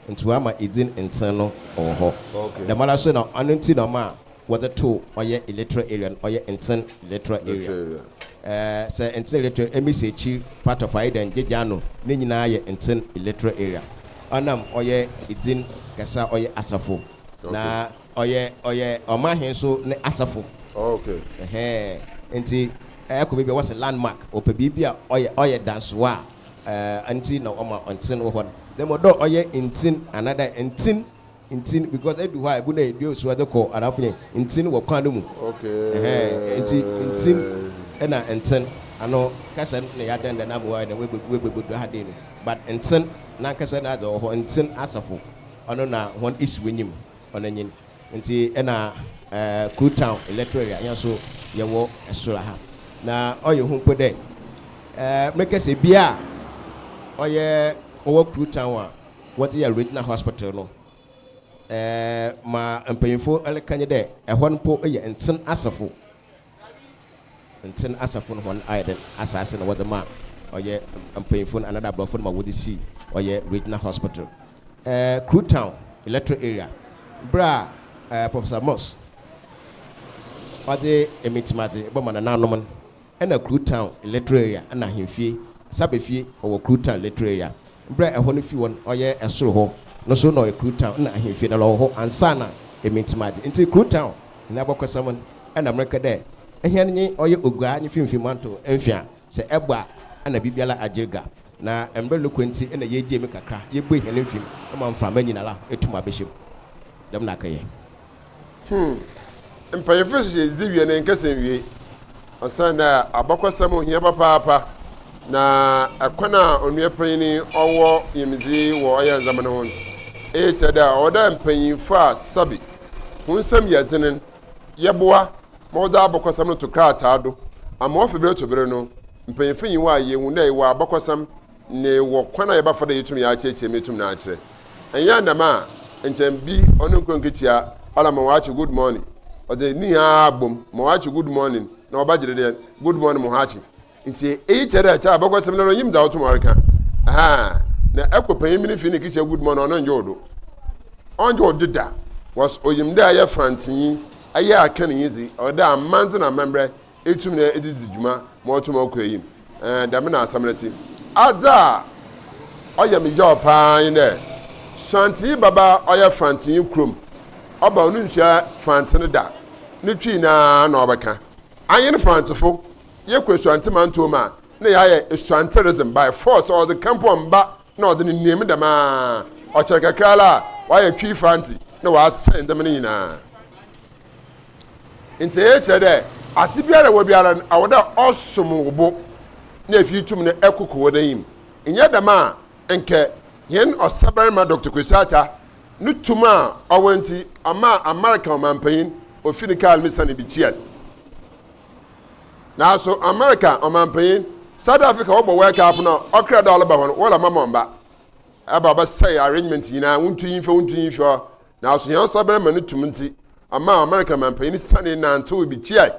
Nti wɔama edzin ntsen no wɔ hɔ. Dɛmara so na ɔno ntsi na ɔmaa wɔdze too ɔyɛ electoral area no, ɔyɛ ntsen electoral area. Sɛ ntsen electoral, Emisi ekyir, part of Ayida, Ngyeja ano, ne nyina yɛ ntsen electoral area. Ɔnam ɔyɛ edzin kɛse a ɔyɛ asafo na ɔyɛ ɔyɛ ɔmanhen so ne asafo. Ntsi ɛkɔ beebi a wɔse landmark, wɔpɛ biribi a ɔyɛ ɔyɛ dansoa a eh, nti na ɔma ntsen wɔ hɔ no. Na mbom dɛ ɔyɛ ntsin anadɛ ntsen ntsin because edu hɔ a ebu na edua osu ɔdze kɔ anaa afei ntsin wɔ kwan no mu. Ɛhɛn, ntsi ntsin na ntsen ano kasa no na yɛadɛn dɛ na ma ɔayɛ dɛn woebebu woebebu do ha dei no but ntsen nankasa no adze ɔwɔ hɔ ntsen asafo ɔno na hɔn isi wonyim ɔno nye no ntsi na eh, Kru Town electoral area hɛn so yɛwɔ sor ha na ɔyɛ hu mpo dɛ Meka sɛ bi a ɔyɛ ɔwɔ Kru Town a wɔdze yɛ Regional Hospital no, ma mpanyimfo reka nye dɛ, hɔ no mpo yɛ Ntsen asafo, Ntsen asafo no hɔn ayɛ dɛn asaase na wɔdze maa ɔyɛ mpanyimfo no anaadɛ aborɔfo no ma wɔdze sii ɔyɛ Regional Hospital. Kru Town electoral area, ber a Professor Moss ɔdze emitsemadze bɔma nananom no, na Kru Town Electoral Area na Ahemfie Sabefie ɔwɔ Kru Town Electoral Area. Berɛ a ɛhɔ no fi hɔ no ɔyɛ ɛsoro hɔ no so na ɔyɛ Kru Town na Ahemfie na lɔwɔ hɔ ansa na Emintimadze. Ntsi Kru Town hɛn abɔkɔsɛm no na mereka dɛ hɛn nye ɔyɛ Oguaa nye Finimfin Manto mfe a sɛ ɛbɔ a na biribiara agyer ga na mber no kɔ ntsi na yɛregyae mu kakra yɛbue hɛn mfem ma mframa nyinara etum abɛhyɛ mu. Dɛm na akɛyɛ. Hmm. Mpanyimfo hyehyɛ dzi wie no nkɛsɛ nwiei. Osiandɛ abakɔsɛm ho hia papaapa, na kwan a onua panyin yi ɔwɔ nyimdzi wɔ ɔyɛ ndzɛmba no ho no, iyi kyerɛ dɛ ɔwɔ dɛ mpanyimfo a sabi hɔn nsamu yɛ dzen no yɛboa ma wɔdze abakɔsɛm no to krataa do, ama ɔfi ber to ber no mpanyimfo nye wo ayɛ ehu dɛ ewɔ abakɔsɛm ne wɔ kwan a yɛbɛfa dɛ yetum yɛakyerɛkyerɛ mu etum no akyerɛ. Annyɛ dɛm a, nkyɛ bi ɔno nkura nkekyia ɔla ma ɔakye good morning, ɔdze ne nyinara abɔ mu ma ɔakye good morning na ɔba gyedɛ dɛ good morning mo ho akye. Ntsi iyi kyerɛ dɛ kyɛa bɔkɔ sɛm no do nnyim dza ɔtom ɔrekã. Ahaa, na ɛkɔ panyin bi ne fie ne kekyia good morning ɔno nngye wo do. Ɔnngye wo do da, wɔs ɔyim dɛ ayɛ frantsenyi, ayɛ akãnyi dze ɔwɔ dɛ amandze na amambrɛ etum na edze dzi dwuma ma ɔtse ma ɔkɔ enyim. Ɛɛ, dɛm na asɛm no tse. Adze a ɔyɛ me yaw paa nye dɛ, Suantsee baba a ɔyɛ Fantsee kurom ɔba a onnsuaa Fantse no da, no Twi no ara na ɔbɛkã. Anyen Fantsefo, yɛkɔ Esuantse mantɔw mu a, nna yɛayɛ Esuantse rhythm by force a ɔdze kã mpo ɔmmba na ɔdze no nua mu dɛm ara. Ɔkyɛr kakra ara a, ɔayɛ Twi Fantse na ɔasɛɛ ndzɛmba no nyina. Ntsi iyi kyerɛ dɛ adze biara a ewɔ biara no, ɔwɔ dɛ ɔsom wo bo na efi tum no koko hɔn enyim. Nnyɛ dɛm a, nkyɛ hɛn Ɔsabarmba Doctor Kwesi Artah no tum a ɔwɔ ntsi, ɔmaa America ɔmampanyin ofii ne kaar mu sianee bkyiaa no. Naaso America ɔmampanyin, South Africa wɔbɔ wɛlkaafo no a, ɔkra dɛ ɔreba hɔ no, wɔremma ma ɔmmba. Ɔba a ɔbɛsɛɛ arrangements nyina, wonntu iyi mmfa, wonntu iyi mmfi hɔ, Naaso hɛn sabarima no tum ntsi, ɔmaa America mampanyin sanee nantsewee bekyiae.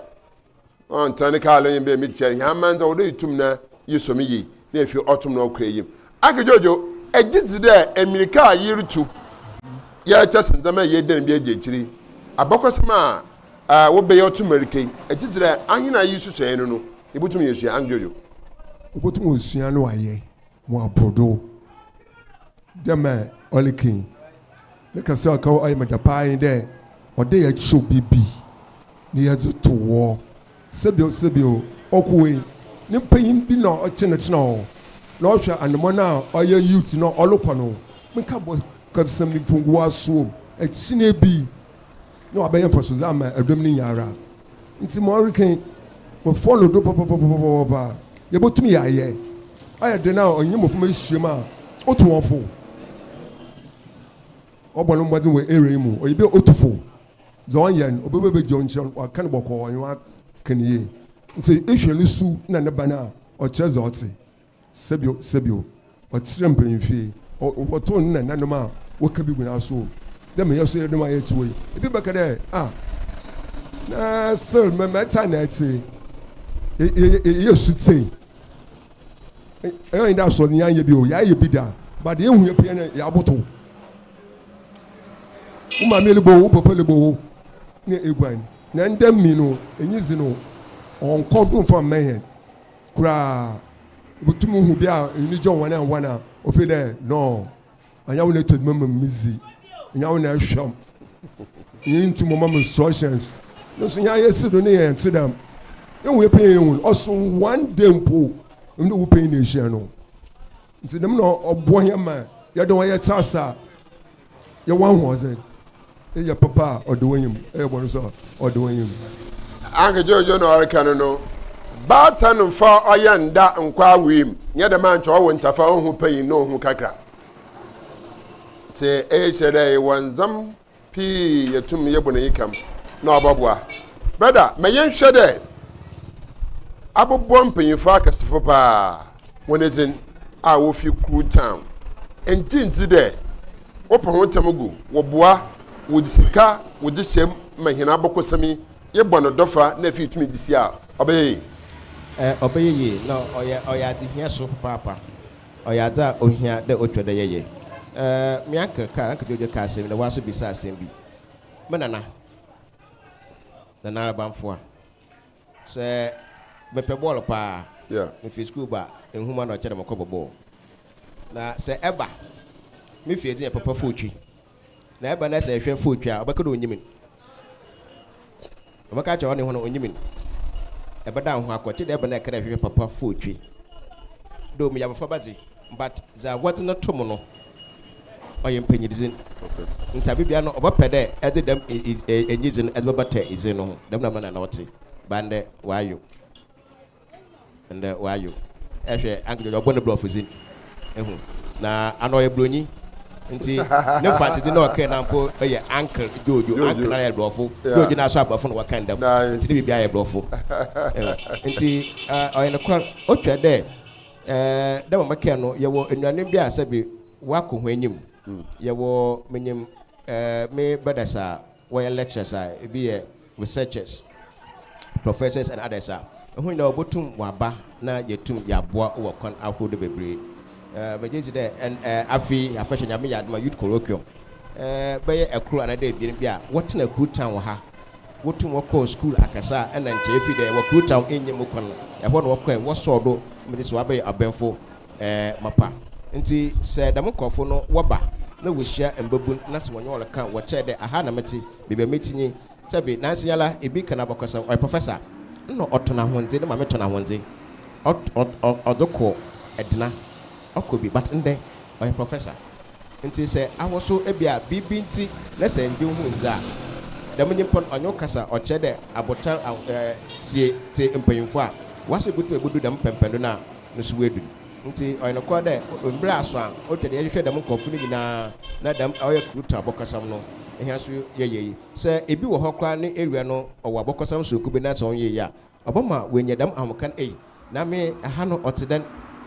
Ɔnntsena ne kaar do nye me dɛ mekyiae. Hɛn aman dze, ɔwɔ dɛ itum na isɔ me yie, na efi ɔtom na ɔkɔ eyim. Agge Jojo, Egye dzi dɛ mbirika a yerutu yɛ kyɛ sen ndzɛmba a yeedan bi egye ekyir yi. Abakɔsɛm a wɔbɛyɛ ɔtom mbirika yi, egye dzi dɛ ahen a yesusuae no no, yebotum yeesua. Agge Jojo. Wobotum esua na wɔayɛ mu abordow dɛ ma ɔrekan yi. Ne kɛse a ɔka hɔ ayɛ me dɛ paa nye dɛ ɔdɛ yɛkyew biribi na yɛdze to hɔ. Sebio sebio, ɔkowee ne mpanyin bi na ɔtsenatsena hɔ na ɔhwɛ anamɔn a ɔyɛ youth no a ɔrokɔ no. Mekã bɔ kɛbsɛm no mfunguw asowa mu. Akyinye bi na wɔabɛyɛ mfasodze ama dɔm no nyinara, ntsi ma ɔreka yi, wɔfɔw no do pɔpɔpɔpɔpɔpɔpɔ a yebotum yɛayɛ ayɛ dɛn a ɔnye mboframba ehyia mu a otu hɔn fo? Ɔbɔ no mbɔdzen wɔ area yi mu, ɔyɛ bi a otu fo, dza ɔnnyɛ no, obowu ebegyina ɔnkyɛr, ɔaka no bɔkɔɔ, ɔnye hɔn aka no yie. Ntsi ehwɛ no su na ne ban a, ɔkyerɛ dza ɔtse. Sɛbio, sɛbio, ɔkyerɛ mpanyimfie, ɔ, wɔtow ne nananom a wɔka bi gu n'aso o, dɛ meyɛ so yerenom ayɛ tsewa yi. Bi bɛka dɛ, Ah, na still mɛ, mɛtse ana ɛtse? Yɛ, yɛ, yɛ, yɛyɛ sutsei. Ɛyɛ ɔnye dɛ asɔr no yɛanyɛ bi o, yɛayɛ bi da, but deɛ ehu yɛ pɛn no, yɛabotow. Wo maame lebɔ wo, wo papa lebɔ wo, na eguan. Na ndɛ mi no, enyi dze no, ɔnnkɔ do mmfa mmɛn hɛn. koraa wobotum hu bi a enyi gye hɔn a hɔn a ofi dɛ no annyɛ wo na etɔ dwuma ma me dzi nnyɛ wo na ehwɛ m nnyɛ nntum ɔma me instructions no so hɛn ayɛ si do ne yɛn tse dɛm ehu yɛ panyin ehu ɔso one day mpo emi ne wo panyin na ehyia no. Nti dɛm na ɔboa hɛn ma yɛdze hɔn yɛtse ase a, yɛwɔ ahoɔdzen. Eyɛ papa a, ɔdɔ w'enyi mu, eyɛ bɔn so a, ɔdɔ w'enyi mu. Anka Jojo na ɔreka no no, baatan mfa ɔyɛ nda nkɔ awoe mu, nnyɛ dɛm a nkyɛ ɔwo ntafa, ohu panyin na ohu kakra. Ntsi iyi kyerɛ dɛ ewɔ ndzɛmb pii yɛ tum yɛ bɔ n'enyi kam na ɔbɔboa. Brɛda, ma yɛnhwɛ dɛ abobɔ mpanyimfo akɛsefo paa hɔn edzin a wofi Kru Town. Enngye nndzi dɛ wɔpa hɔn tam gu, wɔboa, wɔdze sika wɔdze hyɛ mu ma hɛn abakɔsɛm yi yɛbɔ no dɔfa na afei yetum dze sie a, ɔbɛyɛ yie. Ɔbɛyɛ yie na ɔyɛ ɔyɛ adzehia so papaapa. Ɔyɛ adze a ohia dɛ otwa dɛ yɛyɛ. Me uncle kaa, Uncle Jojo kaa asɛm bi na ɔaso bisaa asɛm bi. Me nana, Nana Arabamfoa, sɛ mepɛ bɔɔl paa, mifi skuul ba a, nhoma na ɔkyɛ dɛ mokɔbɔ bɔɔl. Na sɛ ɛba me fie dze yɛ papa footwe. Na ɛba na sɛ ɛhwɛ fo twa a, ɔbɛka dɛ onnyi me no. Ɔbɛka akyerɛ ɔne ho no, onnyi me no. Ɛbɛdan ho akɔ, tse dɛ ba no a ɛka dɛ hwehwɛ papa fo twe. Dɛ omi abofraba dze, but dza wɔdze no to mu no, ɔyɛ mpanyidzin. Ntsi aber biara no, ɔbɛpɛ dɛ ɛdze dɛm enyidzi no ɛdze bɛbata dzin no ho. Dɛm na mbrɛ nna ɔtse, ba ndɛ ɔayew. Ndɛ ɔayo hwɛ Anglid ɔbɔ ne brɔfo dzin ehu na ana ɔyɛ bronyi ntsi ne mfantsedze na ɔkɛɛ na mpo yɛ Ankl Jojo Ankl nara yɛ brɔfo Jojo nara so abrɔfo na wɔkɛn dɛm ntsi ne biribiara yɛ brɔfo ehu ntsi ɔyɛ nokwar otwa dɛ dɛ ma mekɛɛ no yɛwɔ enuanom bi a sɛbi wɔakɔ hɔn enyim yɛwɔ minyim me brothers a wɔyɛ lectures a ebi yɛ researchers, professors and others a, hɔn nyina wobotum wɔaba na yetum yɛaboa wɔ kwan ahorow do beberee. Megye dzi dɛ ndɛ afe yi afahyɛ Nyame yɛ adom a Youth Colloquium bɛyɛ kor anaa dɛ ebien bi a wɔtsena Kru Town wɔ ha, wotum wɔkɔɔ skuul akɛse a nna nkyɛ efi dɛ wɔ Kru Town nnyi mu kwan, hɔ na wɔkɔe, wɔsɔɔw do, megye dzi dɛ wɔabɛyɛ ɔbemfo. Ɛɛ, mapa. Ntsi sɛ dɛm nkorɔfo no wɔba na wohyia mbabun na sɛ wɔnye hɔn kã wɔ kyɛɛ dɛ aha na metse, beebi a metsi nye sɛ bi nanseyala bi kã n'abakɔsɛm, ɔyɛ professor, nna ɔtɔ n'ahondze, ne maame tɔ n'ahondze, ɔt-ɔt-ɔt ɔdze kɔ Edna, ɔkɔ bi, but ndɛ ɔyɛ professor. Ntsi sɛ ahoso bi a biribi ntsi na sɛ nndze nnhu nndze a, dɛm nyimpa no ɔnye wo kasa ɔkyerɛ dɛ abotar a-ɔɛ-tsie tse mpanyimfo a, w'aso botum ebodu dɛm pɛmpɛndo no a, no so edu. Ntsi ɔyɛ nokwar dɛ mber aso a otwa dɛ yɛhwehwɛ dɛm nkorɔfo no nyina na dɛm ɔyɛ Cruton abɔkɔsɛm no hɛn so yɛyɛ yi. Sɛ bi wɔ hɔ koraa ne ewia no ɔwɔ abɔkɔsɛm soronko bi na sɛ ɔnnyɛ yi a, ɔbɛma oenya dɛm ahomka no, Ei, na me ha no ɔtse dɛn?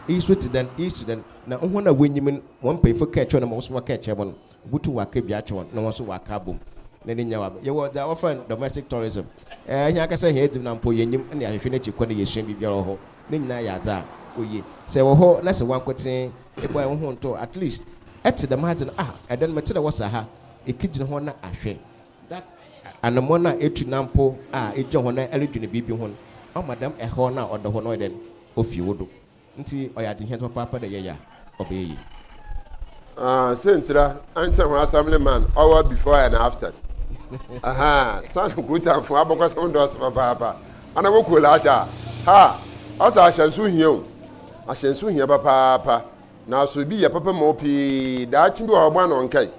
Iyi so tse dɛn? Iyi so tse dɛn? Na hɔn a wonyim no, hɔn mpanyimfo kɛkyerɛ no ma wɔso wɔkɛkyerɛ hɔn. Wobotum wɔaka bi akyɛ hɔn na hɔn so wɔaka abɔ mu na ne nyina wɔaba. Yɛwɔ dza wɔfrɛ no domestic tourism. Ɛyɛ hɛn ankasa hɛn edzibn a mpo yennyim na yɛahwehwɛ n'ekyir kwan na yesua biribiara wɔ hɔ. Ne nyina yɛ adze a oye. Sɛ ewɔ hɔ na sɛ wankotsee ebɔe woho nntoo at least etse dɛm adze no, ah, ɛdɛn no metse dɛ wɔsa ha, ekegyina hɔ na ahwɛ that anamɔn a etu na mpo a egyina hɔ na erodwen biribi ho no, ɔma dɛm haw no a ɔda hɔ no ɔyɛ dɛn, ofi wo do. Ntsi ɔyɛ adzehiadze papaapa dɛ yɛyɛ a, ɔbɛyɛ yie. Aah siantsir a ankyɛ ho Assemblyman ɔwɔ before and after. Ahaa san Nkotanfo abakɔsɛm dɔɔso papaapa. Ana wɔ Kolata a, ha ɔsɛ ahyɛnso hia o. Ahyɛnso hia papaapa. Naaso bi yɛ papa ma wo pii, daakye bi wɔ hɔ a ɔbɔn na ɔnnkɛe.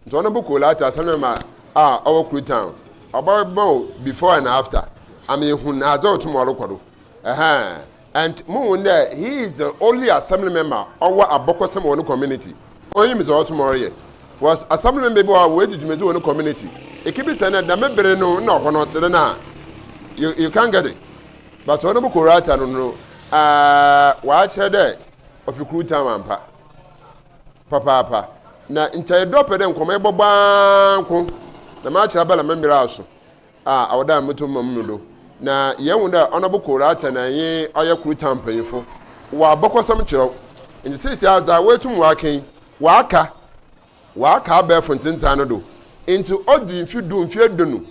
Ntsi ɔnabɔ Kolata Assemblyman a ɔwɔ Koltan, ɔbɛma wo before and after ama ehu adze a ɔtse mu a ɔrokɔ do. Ahaa And muhun dɛ he is the only assembly member a ɔwɔ abɔkɔsɛm wɔ no community. Onyim dza ɔwɔ tum a ɔreyɛ. Was assembly member bi wɔ hɔ a oedzi dwumadzi wɔ no community? Ikebisa dɛ dɛm ber no nna ɔhɔ no tse dɛn a, you you can't get it. But Honourable Korata no no aah ɔakyerɛ dɛ ɔfi Kru Town ampa papaapa. Na nkyɛ edɔ pɛ dɛ nkɔmbɔ yɛbɔbɔ ara nko na makyerɛ abala me mber aso. a awɔda mbotum ma mu no do, na yehu dɛ Ɔnɔbo Kor Rattah na nye ɔyɛ kor taa mpanyimfo wɔ abakɔsɛm kyerɛw. Ntsi seseiara dza woetum wɔaka yi, wɔaka wɔaka abɛɛfo ntsentaa no do. Ntsi odu mfe du, mfe eduonu,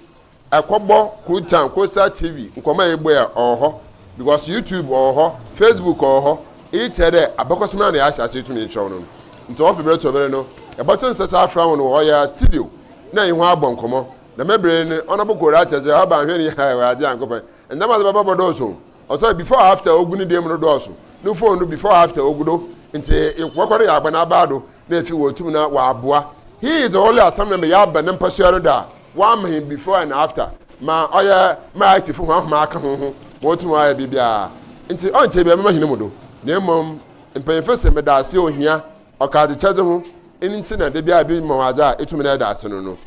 kɔbɔ Kor Taa, Kor Star TV, nkɔmbɔ a yɛbɔe a, ɔwɔ hɔ, because YouTube ɔwɔ hɔ, Facebook ɔwɔ hɔ. Iyi kyerɛ dɛ abakɔsɛm no a na yɛahyɛ ase etum yekyerɛw no no. Ntsi wɔfe ber to ber no, yɛbɔto nsa so afrɛ hɔn wɔ ɔyɛ studio na nye hɔn abɔ nkɔmbɔ. Dɛm ber yi no ɔnobo kor akyɛ so, Haba nhwɛ ne yaa Ewuradze Nyankopɔn, ndzɛmba a ɔdze bɛba bɔdɔɔso o, osian before after a ogu ne dan mu no dɔɔso, no phone do before after ogu do, ntsi nkɔkɔbɔ no yɛ aba n'abaa do na efi wɔ tum na ɔaboa. He is the only asɛm na meyɛ aba ne mpasua no do a wɔama hɛn before and after ma ɔyɛ ma ITfo hɔn ahom aka hoho ma wotum wɔayɛ biribiara, ntsi ɔnnkyɛ biara mɛma hɛn mu do, na mbom mpanyimfo se meda ase ohia. Ɔka adzekyɛdze ho, eno ntsi na da biara bi ma wo adze a etum dɛ eda ase no no.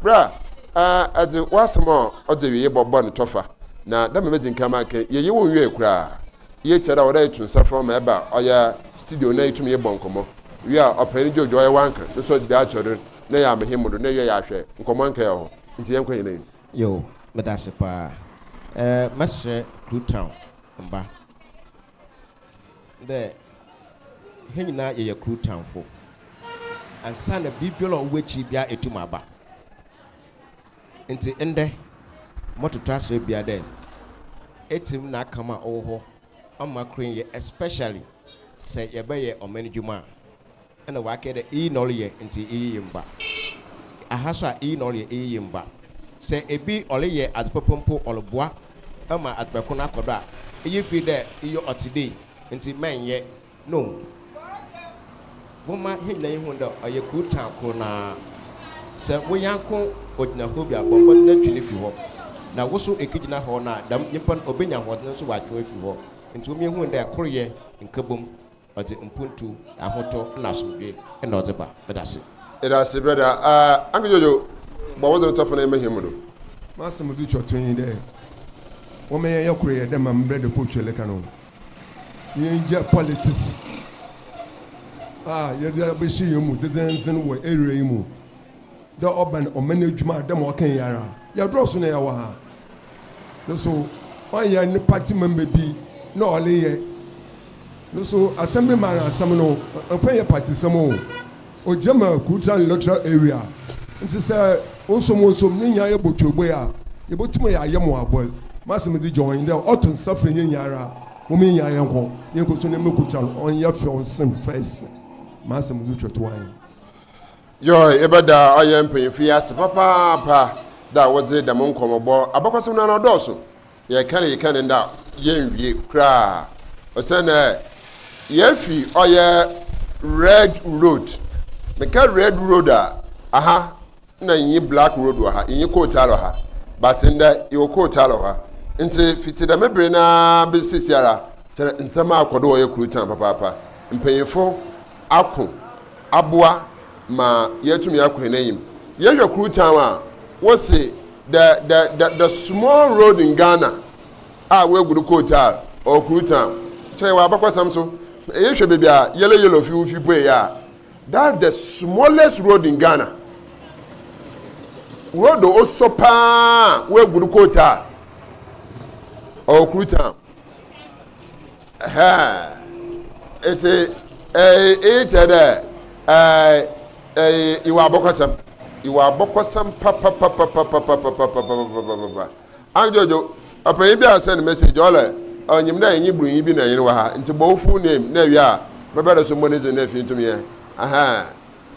Ber a edze w'asɛm a ɔdze ewiei bɔbɔ no tɔfa, na dɛ mbrɛ medzi kan makã yi, yɛnnyɛ wo nnwiae koraa. Iyi kyerɛ dɛ ɔwɔ dɛ eto nsa frɛ wo ma eba ɔyɛ studio na etum nye bɔ nkɔmbɔ. Wie a, Ɔpanyin Jojo ɔyɛ w'anka no so ɔdze bi akyerɛ do na eyɛ ama hɛn mu do na ewie a yɛahwɛ nkɔmbɔ anka yɛwɔ hɔ. Ntsi yɛnkɔ hɛn enyim. Yoo, meda ase paa. Mɛserɛ Kluttown mba dɛ hɛn nyina yɛyɛ kor tamfo. Ansaana biribiara a ɔwɔ w'ekyir biara etum aba. Ntsi ndɛ mɔtoto asera bia dɛ Etsem na akam a ɔwɔ hɔ ɔmma kor nnyɛ especially sɛ yɛbɛyɛ ɔman edwuma a. Nna ɔakã dɛ, Iyi na ɔreyɛ ntsi iyi ye mba. Aha so a, iyi na ɔreyɛ iyi ye mba. Sɛ bi ɔreyɛ adze papa mpo, ɔroboa ma adze ko no akɔ do a, iyi fi dɛ iyi ɔtse dei ntsi mɛnnyɛ no. Momma hɛn nyina nhu dɛ ɔyɛ kuw tan kor no ara. Sɛ wo nyɛnko ogyina hɔ bi a, bɔ mbɔdzen na twe no fi hɔ. Na wo so ekegyina hɔ no a, dɛm nyimpa no obenya ahoɔdzen so ɔatwe wo efi hɔ. Ntsi hom nhu dɛ koryɛ nkabom Ɔdze mpontu, ahotɔ na asomdwee na ɔdze ba. Medase. Edase brɛda a Anki Jojo bɔ wodze no tɔfona yɛmba hɛn mu no. M'asɛm dzi kyɔtɔn nye dɛ wɔma yɛnyɛ kor yɛ dɛ ma mbrɛdefo twerɛ ka no. Yengya politics a yɛdze abɛhyɛ hɛn mu dzedzendzen wɔ era yi mu. Dɛ ɔbɛn ɔman edwuma a, dɛ ma ɔkã yi ara, yɛdɔɔ sõ na yɛwɔ ha. No so, ɔnnyɛ ne party member bi na ɔreyɛ. No so, Assembly man asɛm no, ɔmmfa nnyɛ partysɛm o. Ogyina ma Kultural and Electoral Area. Ntsi sɛ wonsom wonsom na hɛn ayɛ botuobue a, yebotum ayɛ ayɛmuabɔ. M'asɛm dze John nye dɛ, ɔto nsa frɛ hɛn nyinara, hom nyina yɛnkɔ, yɛnkɔsom na yɛmmɛkultural, ɔnnyɛ fɛw nsen fɛs. M'asɛm dze hwɛ to ahen? Yɔ, ebɛda ɔyɛ mpanyimfo yi ase papaapa dɛ a wɔdze dɛm nkɔmbɔbɔ abakɔsɛm no ara ɔdɔɔ so. Yɛkã yi kã no ndɛ a, yennwie koraa osiandɛ yeefi ɔyɛ red road. Mekã red road a, aha nna innyi black road wɔ ha, innyi coal tar wɔ ha, but ndɛ yɛwɔ coal tar wɔ ha. Ntsi fitsi dɛm ber no ara besi seseiara, kyerɛ ndzɛmba akɔ do wɔ ɔyɛ Krutan papaapa. Mpanyimfo. ako aboa ma yɛatumi akɔ hɛn enyim. Yɛhwɛ Krutown a, wose the the the the small road in Ghana a woegu do Kotar or Krutown. Kyɛ yɛwɔ abakɔsɛm so. Ehwɛ beebi a yellow yellow fi wo fi puei a, that's the smallest road in Ghana. Road a osɔ paa a woegu do Kotar or Krutown. Etse eyi kyerɛ dɛ ewɔ abɔkɔsɛm, ewɔ abɔkɔsɛm papapapapapapapapapapapapa. Anjojo, ɔpanyin bi a ɔsɛn message, ɔlɛ, onyim dɛ enye bronyi bi na hɛn wɔ ha, ntsi bɔ wo full name na ewie a mebɛda so mbɔ ne dzin na efi ntum yɛ.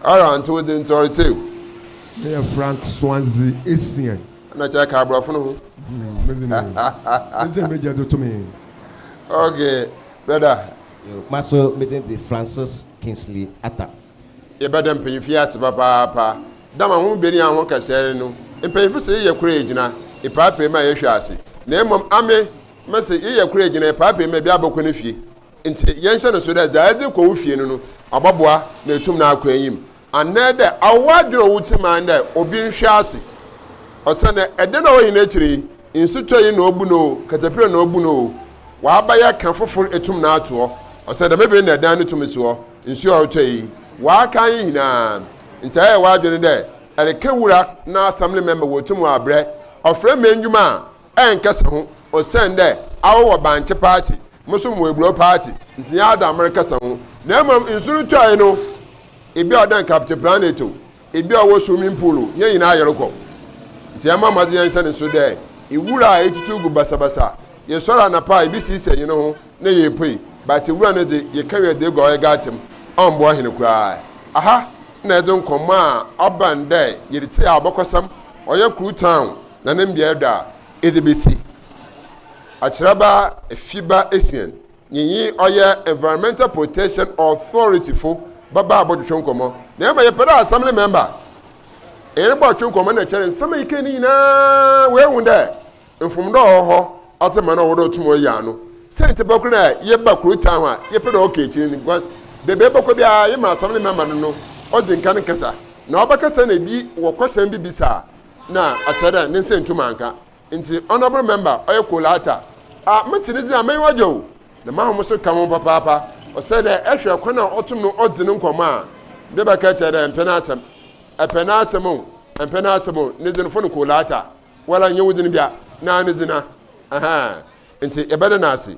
Ara nti wodze ntsɔr tse o. Meyɛ Frank Swansea Essien. Nna ɔkyerɛ ka aborɔfo no ho. Mm, medze me medze m'egya dze to me. Okay, brother. Yo, maso me dzin dze Francis Kingsley Attah. Yɛbɛda mpanyimfo yi ase papaapa. Dɛm ahohombɛnyi a hɔn kasae no no, mpanyimfo se yɛyɛ kor egyina epaapaemu a yɛhwe ase. Na mbom ame, mese yɛyɛ kor egyina epaapaemu a bi abɔkɔ ne fie. Ntsi yɛnhyɛ no nsew dɛ dza edze kɔ wo fie no no, ɔbɔboa na etum no akɔ enyim, anaadɛ awo w'adwen a ɔwo tsim ara dɛ obi nhwɛ ase. Osiandɛ ɛda no a ɔwɔ hɛn ekyir yi, nsutɔ yi na obu no o, katapira na obu no o, ɔaabɛyɛ kã fofor etum no ato hɔ, osiandɛ dɛm ber yi na dan no tum si hɔ, nsu a ɔrotɔ yi, ɔaakã hɛn nyina. Ntsi ayɛ w'adwen dɛ erekã wura n'asɛm no ma ema woetum wɔabrɛ ɔfrɛ ma ndwuma a, Ɛnnkɛsɛ ho, osiandɛ awɔwɔ bankye paatse, moso mowɔ eburow paatse, ntsi nnyɛ adze a merekɛsɛ ho. Na mbom nsu no tɔe no, bi a ɔda nkaapcɛ planet o, bi a ɔwɔ swimming pool o, hɛn nyina yɛrokɔ. Ntsi yɛmma mbɔdzen yɛnhyɛ no so dɛ wura a etutu gu basabasa. Yɛsoɛr anapa a, yebesiesie hɛnho na yeepue, but wura no dze, yɛkã wie a dze egu hɔ a yɛgaatsɛ mu, ɔmmboa hɛn koraa. Aha na yɛdze nkɔmbɔ a ɔbɛn dɛ yɛretse a ɔbɔkɔsɛm, ɔyɛ Kru Town, Na ne mbeaɛ dɔ a ede besi akyerɛba efiba esian nyiyi ɔyɛ Environmental Protection Authority fo bɛba abɔtwetwe nkɔmɔ. Na ema yɛpɛ dɛ Assembly member hɛn bɔtwe nkɔmɔ na kyɛrɛ nsɛm a yekɛɛ ne nyina woehu dɛ mfomdo a ɔwɔ hɔ ɔtse ma no a ɔwɔ dɛ otum ɔyɛ ano. Siantsir pa kor na yɛba kurowtaa ho a yɛpɛ dɛ ɔkɔ ekyir no because beebi a ebɔkɔ biara yɛma Assembly member no no odzi nkan kasa. Na ɔbɛkasa na bi wɔ kɔsɛm bi bisa a na akyerɛ dɛ ne nsa nntum annka. Ntsi, honourable member, ɔyɛ Kolata, a metse ne dze a, m'enyiwa gye wo, na m'ahom so ka ho papaapa. Ɔsɛ dɛ ehwɛ kwan a ɔtom no ɔdze no nkɔmbɔ a, mede bɛka kyerɛ dɛ mmpɛ n'asɛm. Epɛ n'asɛm o, emmpɛ n'asɛm o, ne dzin fon Kolata. Woara nnyɛ wo dzin bia, na ne dzin a. Ahaa. Ntsi, yɛbɛda no ase.